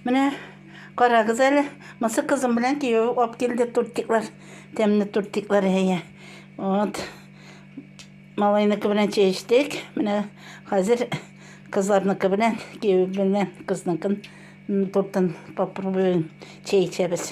Менә карагыз әле, мысы кызым белән кияү алып килде тортиклар. Тәмле тортиклар әйе. Вот. Малайныкы белән чәй эчтек. Менә хәзер кызларныкы белән кияү белән кызныкын тортын попробуем чәй эчәбез.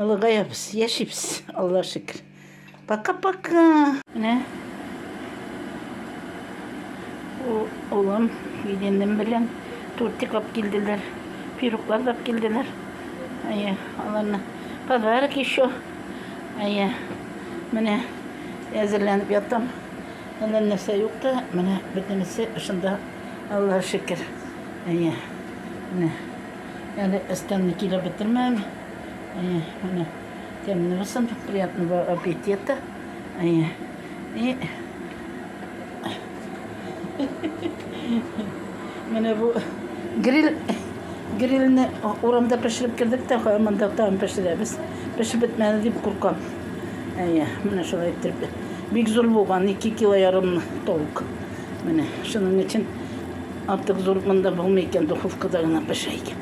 Олыгаябыз, яшибез, Алла шөкер. Пока-пока. Менә улым, киленем белән тортик алып килделәр. Пироклар алып килделәр. Әйе, аларны подарок еще. Әйе. Менә әзерләнеп ятам. Әллә нәрсә юк та, менә бөтенесе шунда, Аллаһ шөкер. Әйе. Менә Әле өстәлне килеп бетермәм. Әйе, менә тәмле булсын, приятного аппетита. Әйе. И Менә бу гриль грильне урамда пешереп кердек тә, монда тагын пешерәбез. Пешеп бетмәде дип куркам. Әйе, менә шулай итеп. Бик зур булган, 2 кило ярым толк. Менә шуның өчен Артык зур монда булмый икән, духовкада гына пешә икән.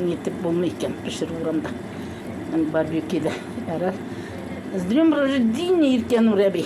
Нитеп булмый икән, пешерү урамда. Барбекида ярар. С днем рождения, Иркен Урәби!